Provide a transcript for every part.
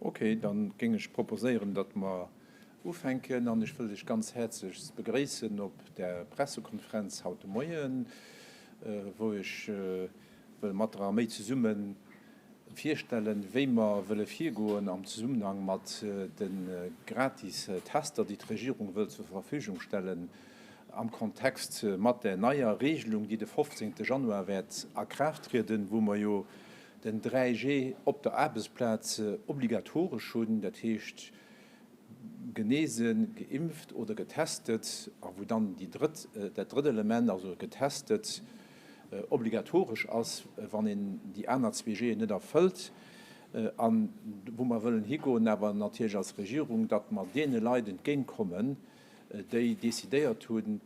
Ok, dann géing ech proposéieren, datt mer ufänken. An ech wëll lech ganz häerzlechst begréissen op der Pressekonferenz haut de Moien, wou ech wëll mat der Arméi zesumme virstellen, wéi mer wëlle virgoen am Zesummenhang mat de gratis Tester, déi d'Regierung wëll zur Verfügung stellen am Kontext mat där neier Regelung, déi de 15. Januar wäert a Kraaft trieden, wou mer jo den 3G op der Aarbechtsplaz obligatoresch hunn, dat heescht genesen, geimpft oder getestet, a wou dann dat drëtt Element, also getestet, obligatoresch ass, wann een déi aner zwee G'en net erfëllt. An wou mer wëllen higoen awer natierlech als Regierung, datt mer deene Leit entgéintkommen, déi decidéiert hunn,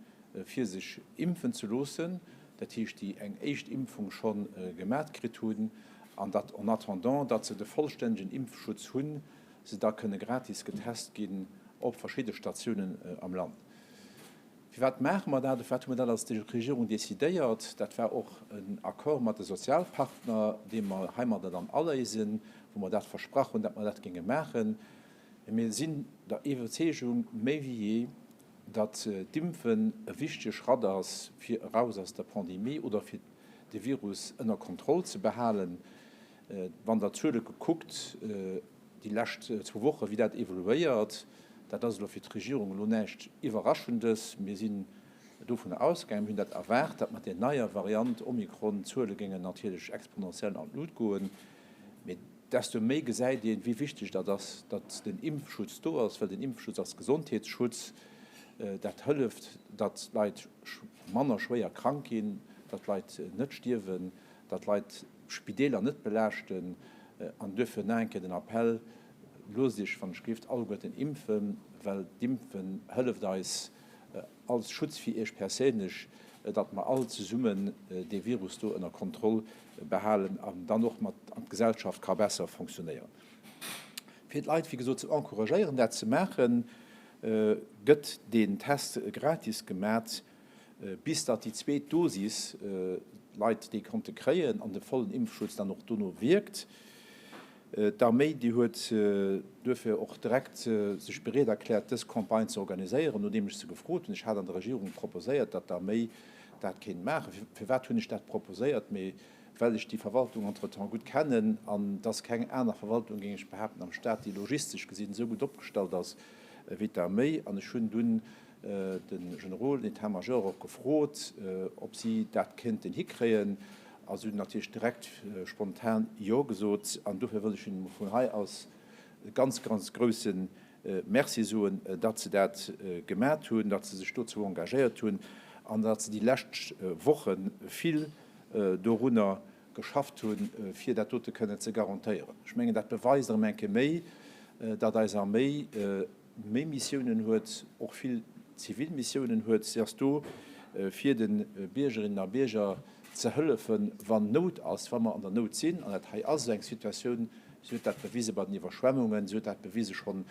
fir sech impfen ze loossen, dat heescht, déi eng éischt Impfung scho gemat kritt hunn, an datt, en attendant datt se de vollstännegen Impfschutz hunn, se da kënne gratis getest ginn op verschidde Statiounen am Land. Firwat maache mer dat? Firwat hu mer dat als Regierung decidéiert? Dat war och en Accord mat de Sozialpartner, dee mer heimadder dann aléisen, wou mer dat versprach hunn, datt mer dat géinge maachen. Mir sinn der Iwwerzeegung méi wéi jee, datt d'Impfen e wichtege Schratt ass, fir eraus aus der Pandemie oder fir de Virus ënner Kontroll ze behalen. Wann Der d'Zuele kuckt, déi lescht zwou Wochen, wéi dat evoluéiert, dat ass elo fir d'Regierung elo näischt Iwwerraschendes. Mir sinn dovun ausgaangen, mir hunn dat erwaart, datt mat där neier Variant Omikron d'Zuele géingen natierlech exponentiell an d'Lut goen. desto méi gesäit een, wéi wichteg dat ass, datt den Impfschutz do ass, well den Impfschutz ass Gesondheetsschutz. Dat hëlleft, datt Leit manner schwéier krank ginn, datt Leit net stierwen, datt Leit d'Spideeler net belaaschten. An duerfir nach eng Kéier den Appell, Loosst Iech, wann Iech gléckt, alleguerten impfen, well d'Impfen hëlleft eis, als Schutz fir Iech perséinlech, datt mer all zesummen dee Virus do ënner Kontroll behalen an dann och mat an d'Gesellschaft ka besser fonctionnéieren. Fir d'Leit, wéi gesot, ze encouragéieren, dat ze maachen, gëtt deen Test gratis gemat, bis datt déi zweet Dosis, d'Leit déi konnte kréien an de vollen Impfschutz dann och dono wierkt. D'Arméi, déi huet duerfir och direkt sech bereet erkläert, dës Campagne ze organiséieren, nodeem ech se gefrot hunn. Ech hat an der Regierung proposéiert, datt d'Arméi dat kéint maachen. Firwat hunn ech dat proposéiert? Mee well ech déi Verwaltung entretemps gutt kennen an et ass keng aner Verwaltung, géing ech behaapten, am Staat, déi logistesch gesinn esou gutt opgestallt ass wéi d'Arméi. An ech hunn dunn de Generol, den Etat-major och gefrot, ob si dat kéinten hikréien. Also hunn natierlech direkt spontan Jo gesot an dofir wëll ech hinnen vun hei aus e ganz, ganz grouse Merci soen, datt se dat gemat hunn, datt se sech dozou engagéiert hunn an datt se déi lescht Woche vill dorunner geschafft hunn, fir dat dote kënnen ze garantéieren. Ech mengen, dat beweist erëm eng Kéier méi, datt eis Arméi, méi Missiounen huet, och vill zivil Missiounen huet. Si ass do fir de Biergerinnen a Bierger ze hëllefen, wann Nout ass, wa mer an der Nout sinn. An dat hei ass esou eng Situatioun. Si huet dat bewise bei den Iwwerschwemmungen, si huet dat bewise schonn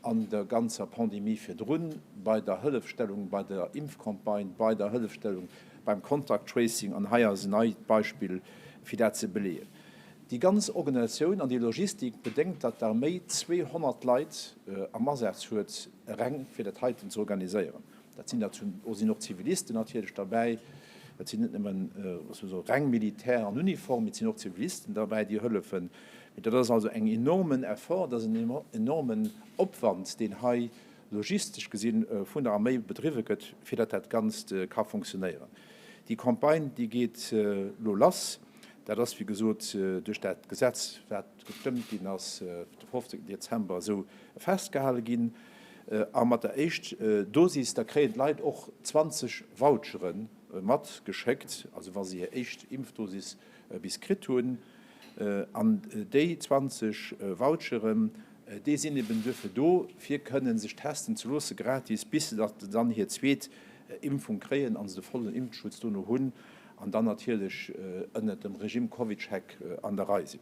an der ganzer Pandemie virdrun, bei der Hëllefstellung bei der Impfcampagne, bei der Hëllefstellung beim Contact Tracing. An hei ass en neit Beispill fir dat ze beleeën. Déi ganz Organisatioun an déi Logistik bedéngt, datt d'Arméi 200 Leit am Asaz huet, reng fir dat heiten ze organiséieren. Dat sinn der zum do sinn och Zivilisten natierlech derbäi. Dat sinn net nëmmen souse reng Militär an Uniform, mee et sinn och Zivilisten derbäi, déi hëllefen. Mee dat ass also eng enormen Effort, dat ass en enormen Opwand, deen hei logistesch gesinn vun der Arméi bedriwwe gëtt, fir datt dat Ganzt ka funktionéieren. Déi Campagne, déi geet elo lass. Dat ass, wéi gesot, duerch dat Gesetz, wat gestëmmt ginn ass de 15 Dezember, esou festgehale ginn. A mat der éischt Dosis, da kréien d'Leit och 20 Vouchere matgeschéckt, also wa se hir éischt Impfdosis bis kritt hunn. An déi 20 Voucheren, déi sinn eben duerfir do, fir kënnen sech testen ze loosse gratis, bis se dann hir zweet Impfung kréien an se de vollen Impfschutz dono hunn an dann natierlech ënnert dem Regime CovidCheck an der Rei sinn.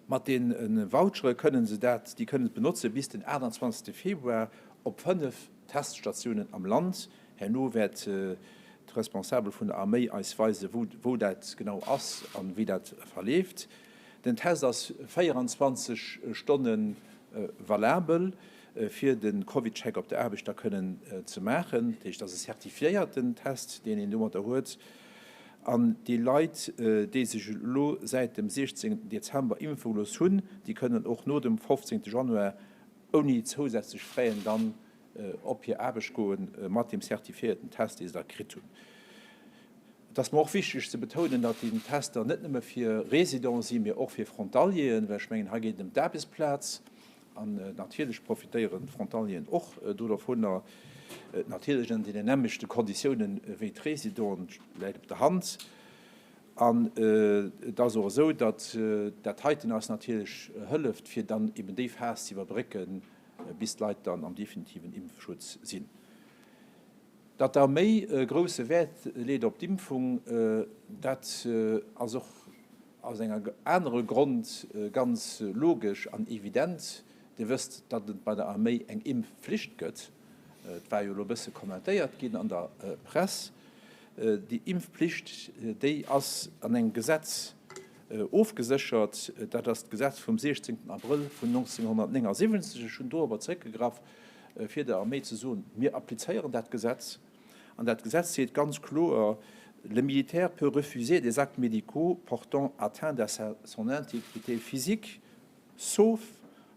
Mat deene Vouchere kënnen se dat, déi kënnen et benotze bis den 28 Februar op 5 Teststatiounen am Land. Herno wäert d'Responsabel vun der Arméi eis weise wou dat genau ass an wéi dat verleeft. Den Test ass 24 Stonne valabel fir de CovidCheck op der Aarbecht da kënnen ze maachen. Dat heescht, dat ass e zertifiéierten Test, deen een domatter huet. An déi Leit, déi sech elo säit dem 16 Dezember impfe gelooss hunn, déi kënnen och no dem 15 Januar ouni zousätzlech Fräen dann op hir Aarbecht goe mat deem zertifiéierten Test, dee se da kritt hunn. Et ass mer och wichteg ze betounen, datt déi Tester net nëmme fir Residenten si, mee och fir Frontalieren, well ech mengen, hei geet et ëm d'Aarbechtsplaz. An natierlech profitéieren d'Frontalieren och do dovun, natierlech ënner deenen nämmlechte Konditiounen wéi d'Résidenten, dat läit op der Hand. An et ass och esou, datt dat heiten eis natierlech hëlleft, fir dann eben déi Phas ze iwwerbrécken, bis d'Leit dann am definitiven Impfschutz sinn. Datt da méi grousse Wäert leet op d'Impfung, dat ass och. Aus enger anere Grond ganz logesch an evident, Dir wësst, datt et bei der Arméi eng Impfflicht gëtt. Et war jo elo e bësse kommentéiert ginn an der Press. Déi Impfflicht, déi ass an engem Gesetz ofgeséchert, dat ass d'Gesetz vum 16 Abrëll vun 1979. Ech hunn do awer zeréckgegraff, fir der Arméi ze soen, Mir applizéieren dat Gesetz. An dat Gesetz seet ganz kloer, Le militaire peut refuser des actes médicaux portant atteinte à sa son intégrité physique, sauf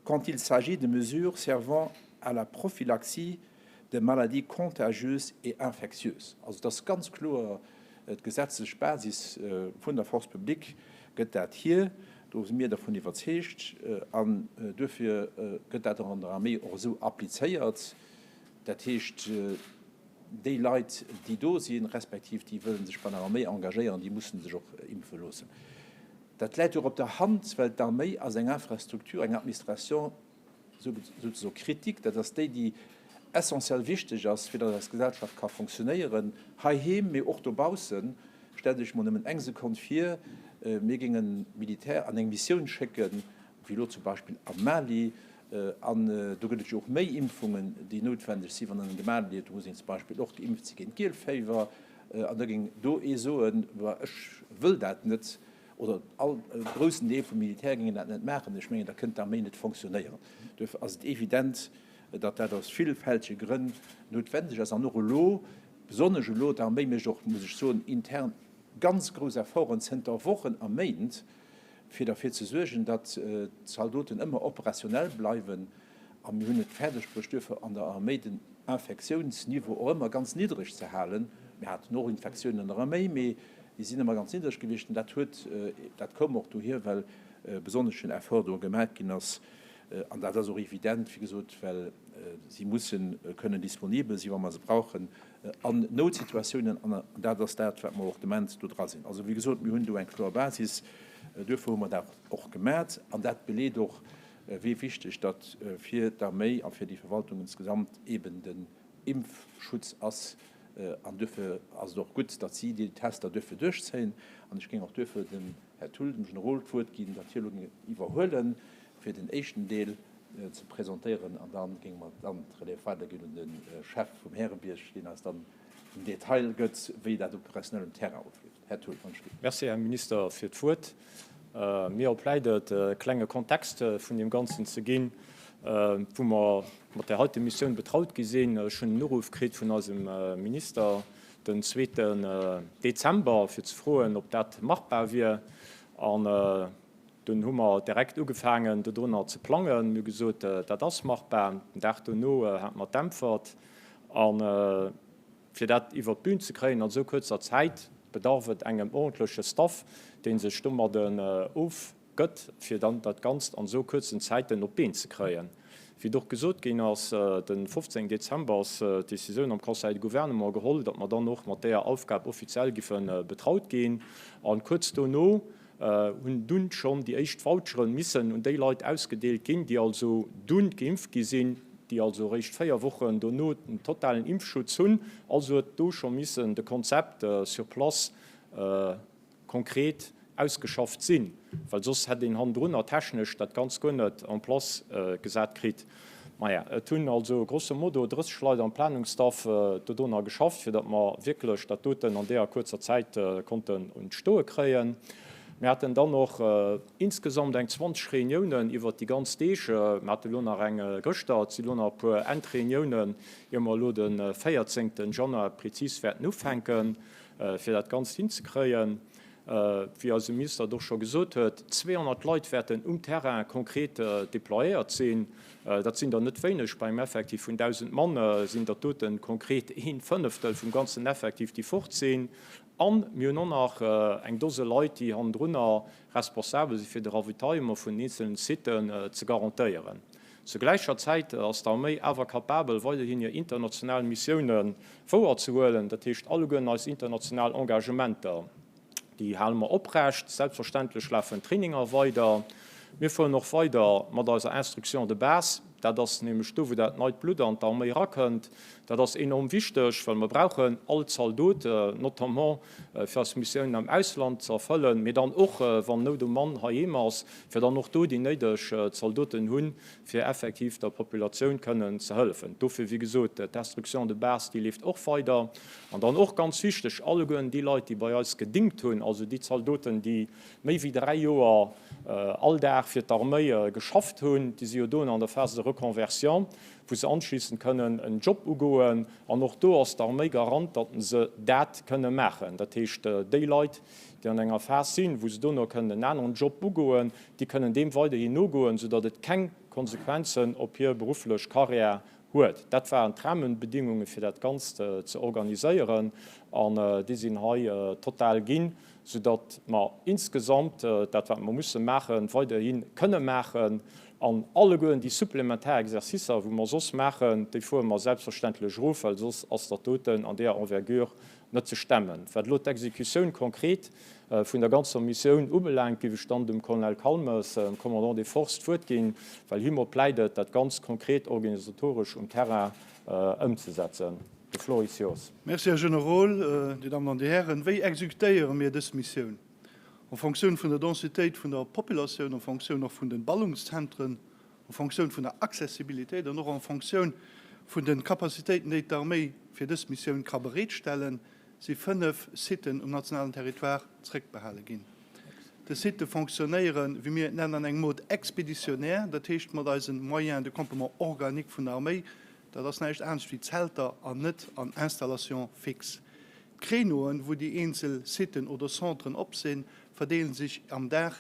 quand il s'agit de mesures servant à la prophylaxie de maladies contagieuses et infectieuses. Also, et ass ganz kloer, Déi gesetzlech Basis vun der Force publique gëtt dat hir, do si mir dervun iwwerzeegt, an duerfir gëtt dat och an der Arméi och esou applizéiert. Dat heescht, déi Leit, déi do sinn, respektiv déi wëlle sech bei der Arméi engagéieren, déi mussen sech och impfe loossen. Dat läit jo och op der Hand, well d'Arméi ass eng Infrastruktur, eng Administration sozusagen critique, dat ass déi, déi essentiell wichteg ass, fir datt eis Gesellschaft ka funktionéieren, heiheem, mee och dobaussen. Stellt Iech mol nëmmen eng Sekonn vir, mir géingen Militär an eng Missioun schécken, wéi elo zum Beispill am Mali, An do gëtt et jo och méi Impfungen, déi noutwendeg sinn, wann en en gemaach huet, do muss een zum Beispill och geimpft si géint Gielféiwer. An da géing do ee soen, Bah, ech wëll dat net. Oder all, e groussen Deel vum Militär géing dat net maachen. Ech mengen, da kënnt d'Arméi net fonctionnéieren. Duerfir ass et evident, datt dat aus villfältege Grënn noutwendeg ass. An och elo, besonnesch elo, d'Arméi mécht och, muss ech soen, intern ganz grouss Efforten zënter Wochen a Méint, fir derfir ze suergen, datt d'Zaldoten ëmmer operationell bleiwen, a mir hunn et fäerdegbruecht duerfir an der Arméi den Infektiounsniveau och ëmmer ganz niddereg ze halen. Mir haten och Infektiounen an der Arméi, mee déi sinn ëmmer ganz niddereg gewiescht. Dat huet, dat koum och dohier, well e besonneschen Effort do gemaach ginn ass, an dat ass och evident, wéi gesot, well si musse kënnen disponibel sinn, wa mer se brauchen, an Noutsituatiounen, an dat ass dat, wat mer och de Moment do dra sinn. Also, wéi gesot, mir hunn do eng kloer Basis, duerfir hu mer dat och gemat, an dat beleet och, wéi wichteg datt fir d'Arméi a fir déi Verwaltung insgesamt eeben den Impfschutz ass. An duerfir ass et och gutt, datt si déi Tester duerfen duerchzéien, an ech géing och duerfir dem Här Thull, dem Generol d'Wuert ginn, datt hie elo géing et iwwerhuelen, fir den éischten Deel ze presentéieren, an da géinge mer dann d'Relève weiderginn un de Chef vum Härebierg, deen eis dann den Detail gëtt, wéi dat operationell um Terrain ofleeft. Här Thull, wann ech ginn. Merci, Här Minister, fir d'Wuert. Mir op läit et, e klenge Kontext vun deem Ganzen ze ginn, wou mer mat där heite Missioun betraut gi sinn. Ech hunn en Uruff kritt vun eisem Minister, den zweeten Dezember, fir ze froen, ob dat machbar wier. An dunn hu mer direkt ugefaangen, dodrunner ze plangen. Mir hu gesot, dat ass machbar. Den Dag dono hate mer d'Äntwert. A fir dat iwwert d'Bün ze kréien an esou kuerzer Zäit, bedarf et engem ordentleche Staff, dee sech domadden of. gëtt, fir dann dat Ganzt an esou kuerzen Zäiten op d'Been ze kréien. Wéi et och gesot ginn ass, de 15 Dezember ass d'Decisioun am Conseil de Gouvernement geholl, datt mer dann och mat deeër Aufgab offiziell giffe betraut ginn. A kuerz dono hunn dunn schonn déi éischt Voucheren missen un déi Leit ausgedeelt ginn, déi also dunn geimpft gi sinn, déi also eréischt véier Wochen dono den totalen Impfschutz hunn. Also huet do scho missen de Konzept sur place, konkret ausgeschafft sinn, well soss hätt een hannendrunner technesch dat Ganzt guer net en place gesat kritt. Maja, et hunn also grosso modo 30 Leit am Planungsstaff dodona geschafft, fir datt mer wierklech dat doten an deeër kuerzer Zäit konnten un d'Stoe kréien. Mir haten dann och insgesamt eng 20 Reuniounen iwwert déi ganz Deeg. Mer hate lo nach eng gëschter. Et si lo nach e puer Endreuniounen, ier mer elo de 14 Januar prezis wäerten ufänken. Fir dat Ganzt hinzekréien, wéi eise Minister et och scho gesot huet, 200 Leit wäerten um Terrain konkret déployéiert sinn. Dat sinn der net wéineg. Bei engem Effektiv vun 1.000 Mann sinn dat doten konkret een Fënneftel vum ganzen Effektiv, déi fort sinn. A mir hunn och nach eng Dose Leit, déi hannendrunner responsabel si fir de Ravitaillement vun den eenzelen Siten ze garantéieren. Zur gläicher Zäit ass d'Arméi awer kapabel, weiderhin hir international Missioune wouerzehuelen. Dat heescht, alleguer eis international Engagementer, déi hale mer oprecht. Selbstverständlech lafen d'Traininger weider. Mir fueren och weider mat eiser Instruction de base. Dat ass nämlech do, wou dat neit Blutt an d'Arméi erakënnt. Dat ass enorm wichteg, well mer brauchen all Zaldot, notamment, fir eis Missiounen am Ausland ze erfëllen, mee dann och, wann Nout um Mann heiheem ass, fir dann och do déi néideg Zaldoten hunn, fir effektiv der Populatioun kënnen ze hëllefen. Dofir, wéi gesot, d'Instruction de base, déi leeft och weider. An dann och ganz wichteg, allegueren déi Leit, déi bei eis gedingt hunn, also déi Zaldoten, déi méi wéi dräi Joer all Dag fir d'Arméi geschafft hunn, déi si jo doen an der Phase de reconversion, wou se anschlissend kënnen en Job ugoen, an och do ass d'Arméi Garant, datt se dat kënne maachen. Dat heescht, déi Leit, déi an enger Phas sinn, wou se dono kënnen en aneren Job ugoen, déi kënnen deem weiderhin nogoen, esoudatt et keng Konsequenzen op hir berufflech Carrière huet. Dat waren d'Rahmenbedingungen, fir dat Ganzt ze organiséieren, an déi sinn hei total ginn. soudatt mer insgesamt dat, wat mer musse maachen, weiderhi kënne maachen an allegueren déi supplementar Exercicer, wou mer soss maachen, déi fuere mer selbstverständlech erof, well soss ass dat doten an deeër Envergure net ze stemmen. Wat elo d'Exekutioun konkret vun der ganzer Missioun ubelaangt, géif ech dann dem Colonel Calmes, Commandant des Forces, d'Wuert ginn, well hie mer pläidet, dat Ganzt konkret organisatoresch um Terrain ëmzesetzen. De Floor is yours. Merci, Här Generol. Dir Dammen an Dir Hären, wéi executéiere mir dës Missioun? En Fonctioun vun der Densitéit vun der Populatioun, en Fonctioun och vun de Ballungszentren, en Fonctioun vun der Accessibilitéit an och en Fonctioun vun de Capacitéiten, déi d'Arméi fir dës Missioun ka bereetstellen, si fënnef Siten um nationalen Territoire zréckbehale ginn. Des Sitte fonctionnéieren, wéi mir et nennen, an engem Mode expéditionnaire, dat heescht mat eisen Moyens de campement organiques vun der Arméi. Dat ass näischt anescht wéi Zelter an net an Installations fixes. D'Créneauen, wou déi eenzel Sitten oder Centren op sinn, verdeelen sech am Dag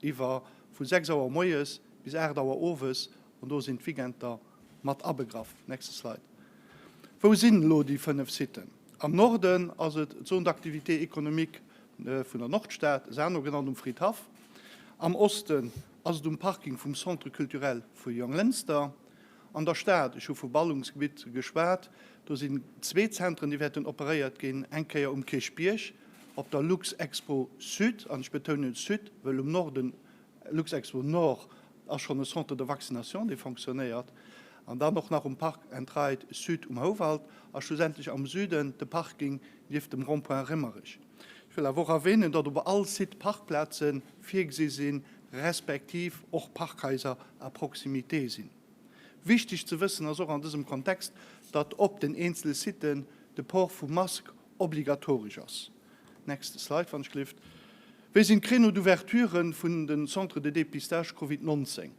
iwwer vu 6 Auer moies bis 8 Auer owes, an do sinn d'Weekenter mat abegraff. Nächste Slide. Wou sinn elo déi 5 Sitten? Am Norden ass et d'Zone d'activités économiques vun der Nordstad, Sarno genannt, um Fridhaff, am Osten ass et um Parking vum Centre Culturel vu Jonglënster, an der Stad, ech hu vu Ballungsgebitt geschwat, do sinn zwee Zentren, déi wäerten operéiert ginn, eng Kéier um Kierchbierg op der Luxexpo Sud, an ech betounen Sud, wëll um Norden Luxexpo Nord ass schonn e Centre de vaccination, dee fonctionnéiert. An dann och nach um Park and Ride Sud um Houwald a schlussendlech am Süden de Parking nieft dem Rond-point Rémmerich. Ech wëll awer och erwänen, datt op all Site Parkplaze virgesi sinn, respektiv och Parkhaiser à proximité sinn. Wichteg ze wëssen ass och an dësem Kontext, datt op den eenzele Siten de Port vu Mask obligatoresch ass. Next slide wann ech gelift. Wéi sinn d'Créneaux d'ouverture vun den Centres de dépistage Covid 19?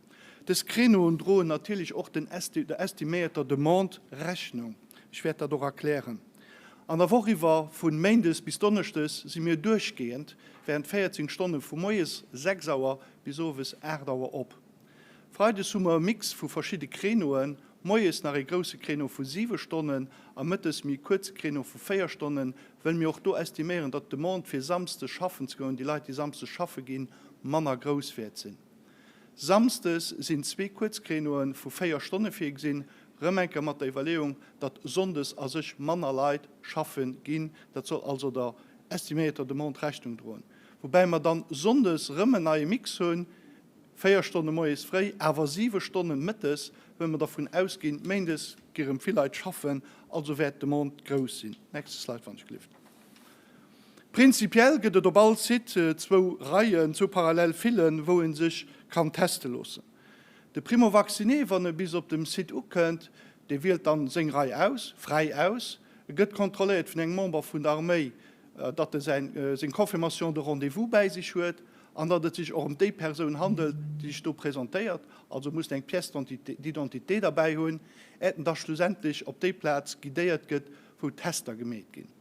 Des Créneauen droen natierlech och den der estiméierter Demande Rechnung. Ech wäert dat och erklären. An der Woch iwwer, vun Méindes bis Donneschdes, si mir duerchgehend während 14 Stonnen vu moies 6 Auer bis owes 8 Auer op. Freides hu mer e Mix vu verschidde Créneauen, moies nach ee grousse Créneau vu 7 Stonnen a mëttes méi e kuerze Créneau vu 4 Stonnen, well mir och do estiméieren, datt d'Demande fir samsdes schaffen ze goen, déi Leit déi samsdes schaffe ginn, manner grouss wäert sinn. Samsdes sinn zwee kuerz Créneaue vu 4 Stonne virgesinn, rëm enker mat der Iwwerleeung, datt sonndes a sech manner Leit schaffe ginn, dat soll also der estiméierter Demande Rechnung droen, woubäi mer dann sonndes rëm en neie Mix hunn, Véier Stonne moies fréi, awer siwe Stonne mëttes, well mer dervun ausginn, méindes gi rëm vill Leit schaffen, also wäert d'Demande grouss sinn. Nächste Slide, wann ech gelift. Prinzipiell gëtt et op all Site zwou Reien, zwou parallel Fillen, wou ee sech kann teste loossen. De Primo-Vacciné, wann e bis op dem Site ukënnt, dee wielt dann seng Rei aus, fräi aus. E gëtt kontrolléiert vun engem Member vun der Arméi, datt e seng Confirmation de rendez-vous bäi sech huet. an datt et sech och ëm déi Persoun handelt, déi sech do presentéiert, also musst eng Pièce d'identité derbäi hunn, äert en da schlussendlech op déi Plaz guidéiert gëtt, wou d'Tester gemeet ginn.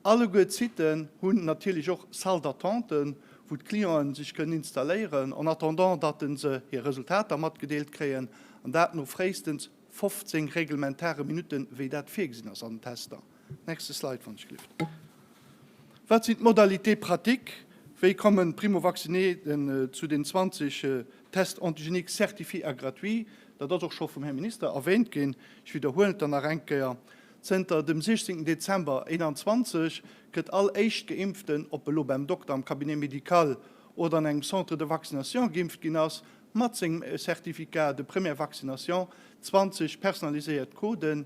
Alleguer d'Siten hunn natierlech och Salles d'attenten, wou d'Clienten sech kënnen installéieren, en attendant datt se hir Resultater matgedeelt kréien, an dat no fréistens 15 reglementare Minutten, wéi dat virgesinn ass an den Tester. Nächste Slide, wann ech gelift. Wat sinn d'Modalités pratiques? Wéi kommen d'Primo-Vaccineten zu den 20 Tests antigéniques certifiés a gratuits? Dat ass och scho vum Här Minister erwähnt ginn, ech widderhuelen et dann nach eng Kéier. Zënter dem 16 Dezember 2021 gëtt all Éischtgeimpften, ob elo beim Dokter, am Cabinet médical oder an engem Centre de vaccination geimpft ginn ass, mat sengem Certificat de première vaccination 20 personaliséiert Coden,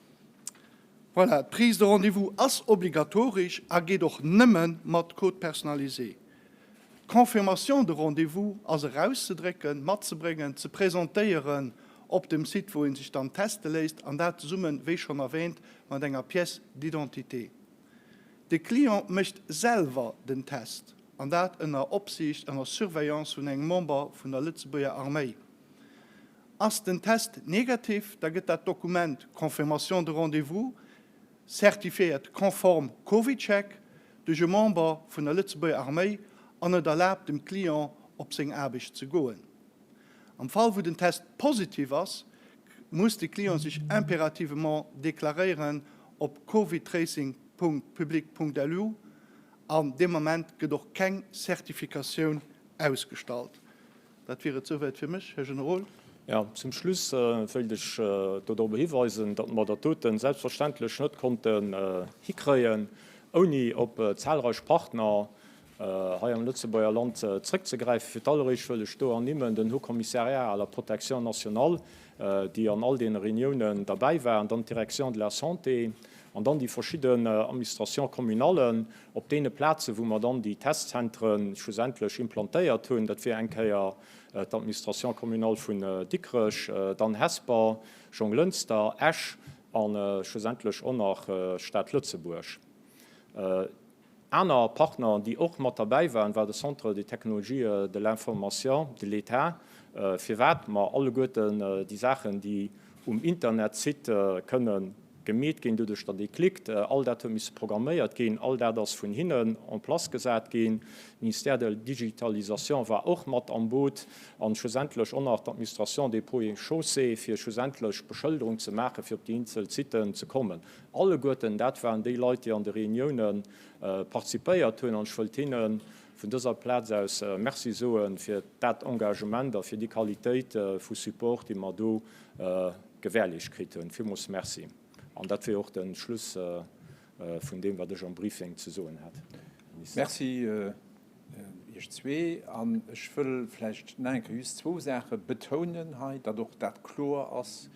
Voilà, d'Prise de rendez-vous ass obligatoresch a geet och nëmme mat Code personnalisé. D'Confirmation de rendez-vous ass erauszedrécken, matzebréngen, ze presentéieren op dem Site, wou ee sech dann teste léisst, an dat zesumme, wéi schonn erwäänt, mat enger Pièce d'identité. De Client mécht selwer den Test, an dat ënner Opsiicht, ënner Surveillance vun engem Member vun der Lëtzebuerger Arméi. Ass den Test negativ, da gëtt dat Dokument Confirmation de rendez-vous, certifiéiert konform CovidCheck, duerch e Member vun der Lëtzebuerger Arméi an et erlaabt dem Client op seng Aarbecht ze goen. Am Fall wou den Test positiv ass, muss de Client sech impérativement deklaréieren op covidtracing.public.lu an deem Ament gëtt och keng Certificatioun ausgestallt. Dat wier et souwäit fir mech, Här Generol. Jo, zum Schluss wéilt ech do drop hiweisen, datt mer dat doten selbstverständlech net konnten hikréien, ouni op zahlreich Partner hei am Lëtzebuerger Land zrëckzegräifen. Fir d'alleréischt wëll ech do ernimmen den Haut Commissariat à la protection nationale, déi an all deene Reuniounen derbäi waren, dann d'Direction de la Santé an dann déi verschidden Administrations communales, Op deene Plazen, wou mer dann déi Testzentre schlussendlech implantéiert hunn, dat wier eng Kéier d'Administration communale vun Dikrech, dann Hesper, Jonglënster, Esch a schlussendlech och nach d'Stad Lëtzebuerg. Aner Partner, déi och mat derbäi waren, war de Centre des technologies de l'information de l'État. Firwat mer alleguerten déi Saachen, déi um Internetsite kënnen, Gemeet ginn, doduerch datt ee klickt. All dat huet misse programméiert ginn, all dat ass vun hinnen en place gesat ginn. De Ministère de la Digitalisation war och mat am Boot an schlussendlech och nach d'Administration des Ponts et Chaussées, fir schlussendlech d'Beschëlderung ze maachen, fir op déi eenzel Siten ze kommen. Alleguerten dat waren déi Leit, déi an de Reunioune participéiert hunn an ech wëllt hinne vun dëser Plaz aus Merci soe fir dat Engagement a fir déi Qualitéit vu Support, déi mer do gewärleecht kritt hunn. Villmools Merci. An dat wier och de Schluss vun deem, wat ech am Briefing ze soen hat. Merci Iech zwee. An ech wëll vläicht nach eng Kéier just zwou Saache betounen hei, datt och dat kloer ass,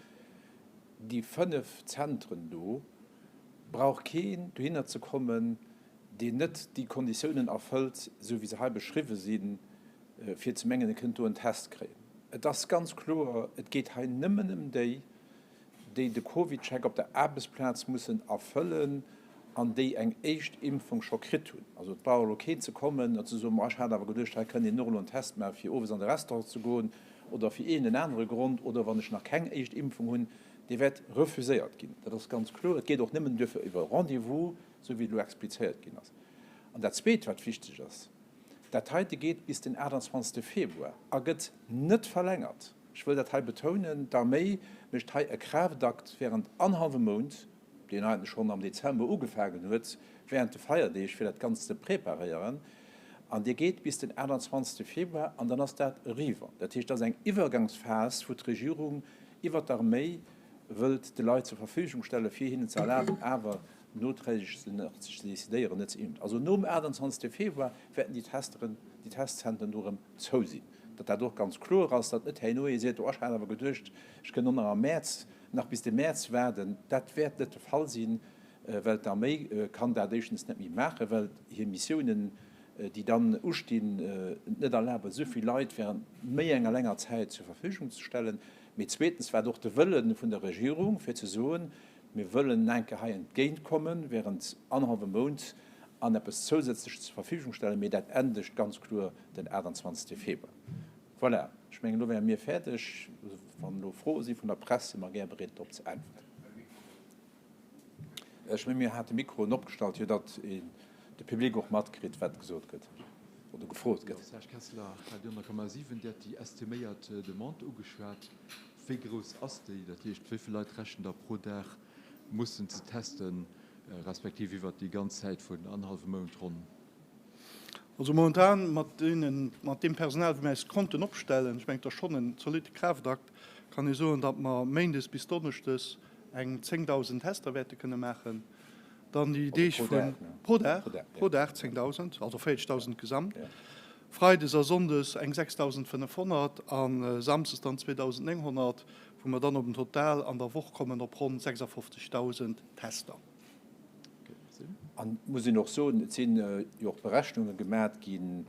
Déi fënnef Zentren do brauch keen dohinner ze kommen, deen net déi Konditiounen erfëllt, esou wéi se hei beschriwwen sinn, fir ze mengen, e kënnt do en Test kréien. Et ass ganz kloer, et geet hei nëmmen ëm déi, déi de CovidCheck op der Aarbechtsplaz mussen erfëllen an déi eng éischt Impfung scho kritt hunn. Also et brauch elo keen ze kommen a ze soen, ma ech hat awer geduecht, hei kënnt een och elo en Test maachen, fir owes an de Restaurant ze goen oder fir iergend en anere Grond, oder wann ech nach keng éischt Impfung hunn. Dee wäert refuséiert ginn, dat ass ganz kloer. Et geet och nëmmen duerfir iwwer e Rendez-vous, esou wéi elo explizéiert ginn ass. An dat Zweet, wat wichteg ass, Dat heite geet bis den 28 Februar a gëtt net verlängert. Ech wëll dat hei betounen, d'Arméi mécht hei e Kraaftakt wärend annerhallwe Mount, deen heiten schonn am Dezember ugefaangen huet, wärend de Feierdeeg, fir dat Ganzt ze preparéieren. An dee geet bis den 28 Februar an dann ass dat eriwwer. Dat heescht, dat ass eng Iwwergangsphas, wou d'Regierung iwwert d'Arméi wëllt de Leit zur Verfügung stellen, fir hinnen ze erlaben awer noträgeg sinn, och ze decidéieren, net ze impfen. Also nom 28 Februar wäerten déi Testeren, déi Testzentren do erëm zou sinn. Datt dat och ganz kloer ass, datt net herno ee seet, oh ech hat awer geduecht, ech kënnen och nach am Mäerz, nach bis de Mäerz waarden. Dat wäert net de Fall sinn, well d'Arméi kann dat éischtens net méi maachen, well hir Missiounen, déi dann ustinn, et net erlaben, esou vill Leit während méi enger länger Zäit zur Verfügung ze stellen. Mee zweetens war et och de Wëlle vun der Regierung, fir ze soen, Mir wëllen en enke hei entgéint kommen, während annerhallwe Mount, an eppes zousätzlech zur Verfügung stellen, mee dat endegt ganz kloer den 28 Februar. Voilà, ech mengen, elo wäre mir fäerdeg. Wann elo Froe si vun der Press, si mer gär bereet, drop ze äntwerten. Ech menge mir hate Mikroen opgestallt, jo, datt de Public och matkritt, wat gesot gëtt oder gefrot gëtt. Serge Kessler, Radio 100,7, Dir hat déi estiméiert Demande ugeschwat. Wéi grouss ass déi? Dat heescht, wéi vill Leit rechent Der pro Dag mussen ze testen, respektiv iwwert déi ganz Zäit vun annerhallwem Mount ronn? Also momentan mat deem Personal, wou mir eis konnten opstellen, ech mengen et ass schonn en zolitte Kraaftakt, kann ee soen, datt mer Méindes bis Donneschdes eng 10.000 Tester wäerte kënne maachen. Dann déi Deeg vun. Pro Dag, ne? Pro Dag. Pro Dag 10.000, also 40.000 gesamt. Freides a Sonndes eng 6.500 a Samsdes dann 2.900, wou mer dann op en Total an der Woch kommen op ronn 56.000 Tester. An et muss een och soen, et sinn jo och Berechnunge gemat ginn,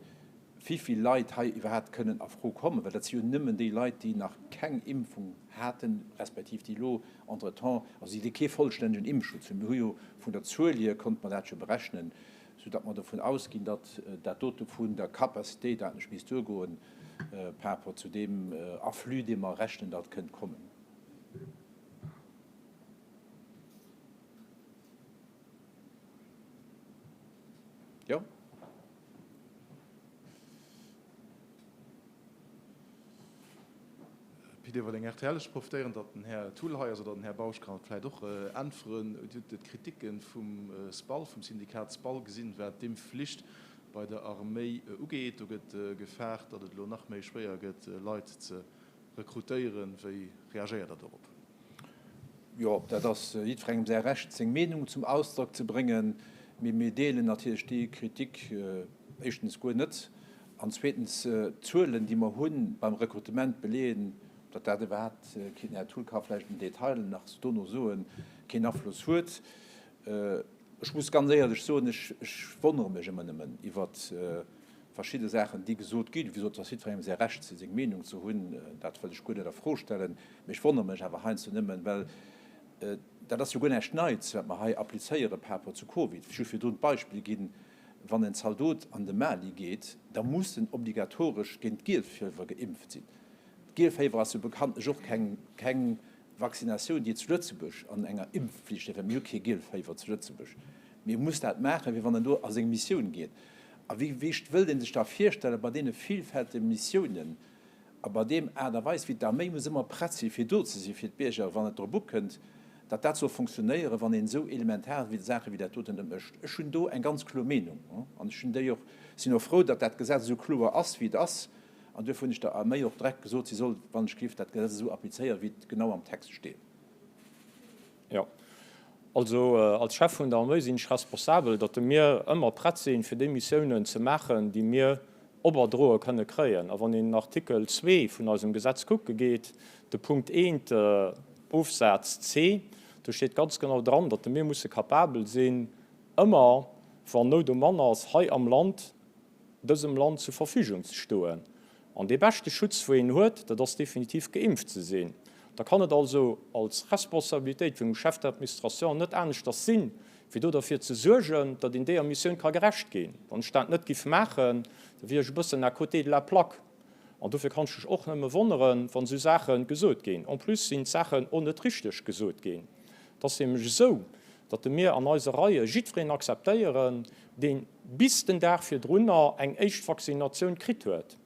wivill Leit hei iwwerhaapt kënnen a Fro kommen, well dat si jo nëmmen déi Leit, déi nach keng Impfung haten, respektiv déi elo entretemps, also déi kee vollstännegen Impfschutz hunn. Mir hu jo vun der Zuel hier, konnte mer dat jo berechnen, sou datt mer dovun ausginn, datt dat dote vun der Capacité dat net misst duergoen par rapport zu deem Afflux, dee mer rechnen, datt kënnt kommen. Jo. Pit Everling, rtl, Ech profitéieren, datt den Här Thull hei ass, oder den Här Bausch kann et vläicht och äntweren. Dir hutt d'Kriticke vum SPAL, vum Syndikat SPAL gesinn, wat d'Impfflicht bei der Arméi ugeet. Do gëtt gefaart, datt et elo nach méi schwéier gëtt, Leit ze rekrutéieren. Wéi reagéiert Der dorop? Jo, dat ass jiddwerengem säi Recht, seng Meenung zum Ausdrock ze bréngen. Mee mir deelen natierlech déi Kritik éischtens guer net. An zweetens, d'Zuelen, déi mer hu beim Rekrutement, beleeën, datt dat iwwerhaapt keen, den Här Thull ka vläicht den Detail nach dono soen, keen Afloss huet. Ech muss ganz éierlech soen, ech wonnere mech ëmmer nëmmen iwwer verschidde Saachen, déi gesot ginn. Wisou? Et ass jiddwerengem säi Recht, seng Meenung ze hunn, dat wëll ech guer net a Fro stellen. Mee ech wonnere mech awer heiansdo nëmmen, well dat ass jo guer näischt Neits, wat mer hei applizéieren par rapport zu Covid. Just fir do e Beispill ginn. Wann en Zaldot an de Mali geet, da muss en obligatoresch géint d'Gielfiewwer geimpft sinn. D'Gielfiewwer ass jo bekanntlech och keng Vaccinatioun, déi et zu Lëtzebuerg an enger Impfpflicht géif. Mir hu kee Gielfiewwer zu Lëtzebuerg. Mee e muss dat maachen, fir wann en do a seng Missioun geet. A wéi wéischt wëllt ee sech da virstellen, bei deene villfältege Missiounen, A bei deem Aart a Weis wéi d'Arméi muss ëmmer prett si fir do ze si fir d'Bierger wann et drop ukënnt, datt dat soll funktionéieren, wann een esou elementar Saache wéi dat doten net mécht. Ech hunn do eng ganz kloer Meenung an ech hunn déi och, sinn och frou, datt dat Gesetz esou kloer ass wéi et ass an duerfir hunn ech der Arméi och direkt gesot, si soll wann ech géif dat Gesetz esou applizéieren wéi et genau am Text steet. Jo. Also als Chef vun der Arméi sinn ech responsabel, datt mir ëmmer prett sinn, fir déi Missiounen ze maachen, déi mir oberdroe kënne kréien. A wann een den Artikel zwee vun eisem Gesetz kucke geet, de Punkt eent, Ofsaz c, do steet ganz genau dran, datt mir musse kapabel sinn, ëmmer, wann Nout um Mann ass hei am Land, dësem Land zur Verfügung ze stoen. An dee beschte Schutz, wou een huet, dat ass definitiv geimpft ze sinn. Da kann et also als Responsabilitéit vun engem Chef d'administration net aneschters sinn, wéi do derfir ze suergen, datt een deeër Missioun ka gerecht ginn. Wann ech dat net giff maachen, da wier ech e bëssen à côté de la plaque. An dofir kann ech mech och nëmme wonneren, wann esou Saache gesot ginn. En plus sinn d'Saachen och net richteg gesot ginn. Et ass nämlech esou, datt mir an eise Reie jiddwereen akzeptéieren, dee bis den Dag virdrunner eng éischt Vaccinatioun kritt huet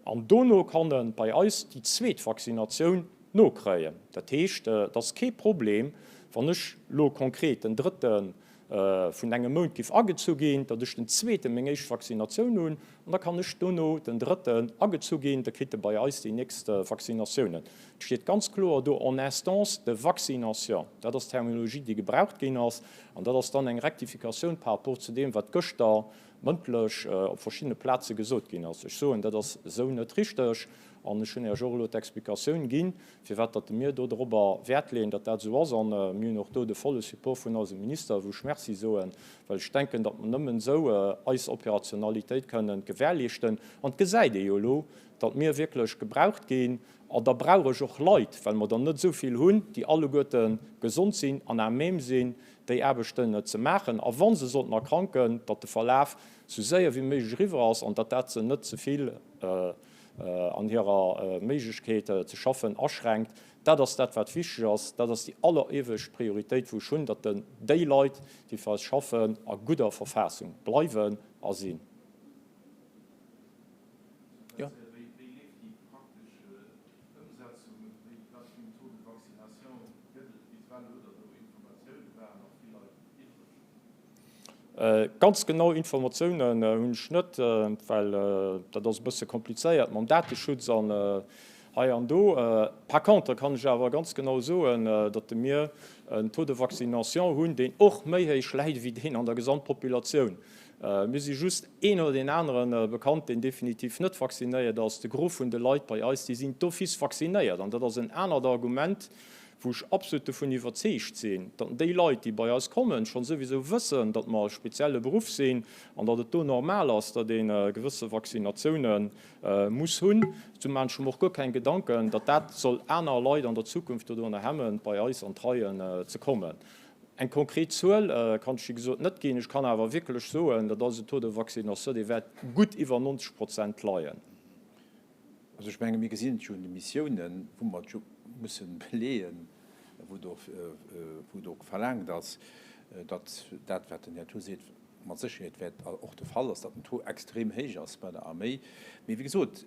an dono kann e bei eis déi zweet Vaccinatioun nokréien. Dat heescht, et ass kee Problem, wann ech elo konkret den drëtten vun engem Mount giff agezu ginn, da duerch den zweeten meng éischt Vaccinatioun hunn an da kann ech dono den drëtten agezu ginn, da kritt e bei eis déi nächst Vaccinatiounen. Et steet ganz kloer do en instance de vaccination. Dat ass d'Terminologie, déi gebraucht ginn ass, an dat ass dann eng Rektifikatioun par rapport zu deem, wat gëschter mëndlech op verschiddene Plaze gesot ginn ass. Ech soen, dat ass esou net richteg an ech hunn Iech och elo d'Explikatioun ginn, Firwat datt mir do dorobber Wäert leeën, datt dat esou ass, a mir hunn och do de volle Support vun eisem Minister, wou ech Merci soen, well ech denken, datt mer nëmmen esou eis Operationalitéit kënnen gewährleeschten. An et gesäit ee jo elo, datt mir wierklech gebraucht ginn. An da brauch ech och Leit, well mer der net esou vill hunn, déi alleguerte gesond sinn an à même sinn, déi Aarbechten ze maachen, a wa se sollten erkranken, datt de Verlaf esou séier wéi méiglech eriwwer ass an datt dat se net ze vill an hirer Méiglechkeet ze schaffen aschränkt. Dat ass dat, wat wichteg ass. Dat ass déi alleriewescht Prioritéit, wou ech hunn, datt déi Leit, déi fir eis schaffen, a gudder Verfassung bleiwen a sinn. Ganz genau Informatiounen hunn ech net, well dat ass e bësse komplizéiert mam Dateschutz an hei an do. Par contre kann ech awer ganz genau soen, datt de mir en Taux de vaccination hunn, deen och méi héich läit wéi deen an der Gesamtpopulatioun. Mir si just een oder deen anere bekannt, deen definitiv net vaccinéiert ass. De Gros vun de Leit bei eis, déi sinn d'office vaccinéiert. An dat ass en anert Argument, wou ech absolut dovun iwwerzeegt sinn, datt déi Leit, déi bei eis kommen, scho souwisou wëssen, datt mer e spezielle Beruff sinn an datt et do normal ass, datt ee gewësse Vaccinatioune muss hunn, sou maachen ech mer och guer keng Gedanken, datt dat soll aner Leit an der Zukunft doduerno hemmen, bei eis an d'Reien ze kommen. Eng konkret Zuel kann ech wéi gesot net ginn. Ech kann awer wierklech soen, dat ass e Taux de vaccination, dee wäert gutt iwwer 90 Prozent leien. Also ech menge mir gesinn et jo un de Missiounen, wou mer et jo musse beleeën, wou do verlaangt ass, datt dat wat den Här Tho seet mat Sécherheet wäert och de Fall ass, datt den Taux extrem héich ass bei der Arméi. Mee wéi gesot,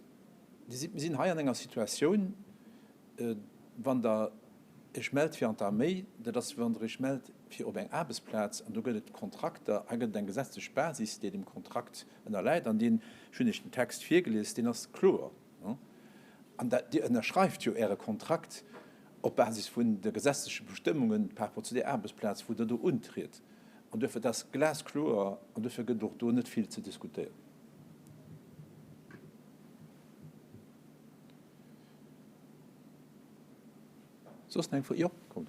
Dir sidd, mir sinn hei an enger Situatioun, wann Der Iech mellt fir an d'Arméi, dat ass wéi wann Der Iech mellt fir op eng Aarbechtsplaz an do gëtt et Kontrakter, hei gëtt et eng gesetzlech Basis, déi deem Kontrakt, ënnerläit, an deen, ech hunn Iech den Text virgelies, deen ass kloer, an Dir ënnerschreift jo Äre Kontrakt op Basis vun de gesetzleche Bestëmmungen par rapport zu där Aarbechtsplaz, wou Der do untriet. An duerfir, dat ass glaskloer, an duerfir gëtt et och do net vill ze diskutéieren. Soss nach eng Fro? Jo, kommt.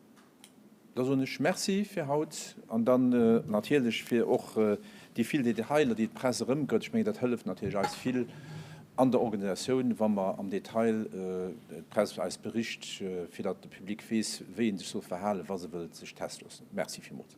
Da soen ech Merci fir haut an dann natierlech fir och déi vill Detailer, déi d'Press erëmgëtt. Ech mengen, dat hëlleft natierlech eis vill an der Organisatioun, wa mer am Detail d'Press eis bericht, fir datt de Public weess, wéi ee sech soll verhalen, wa se wëllt sech teste loossen. Merci villmools.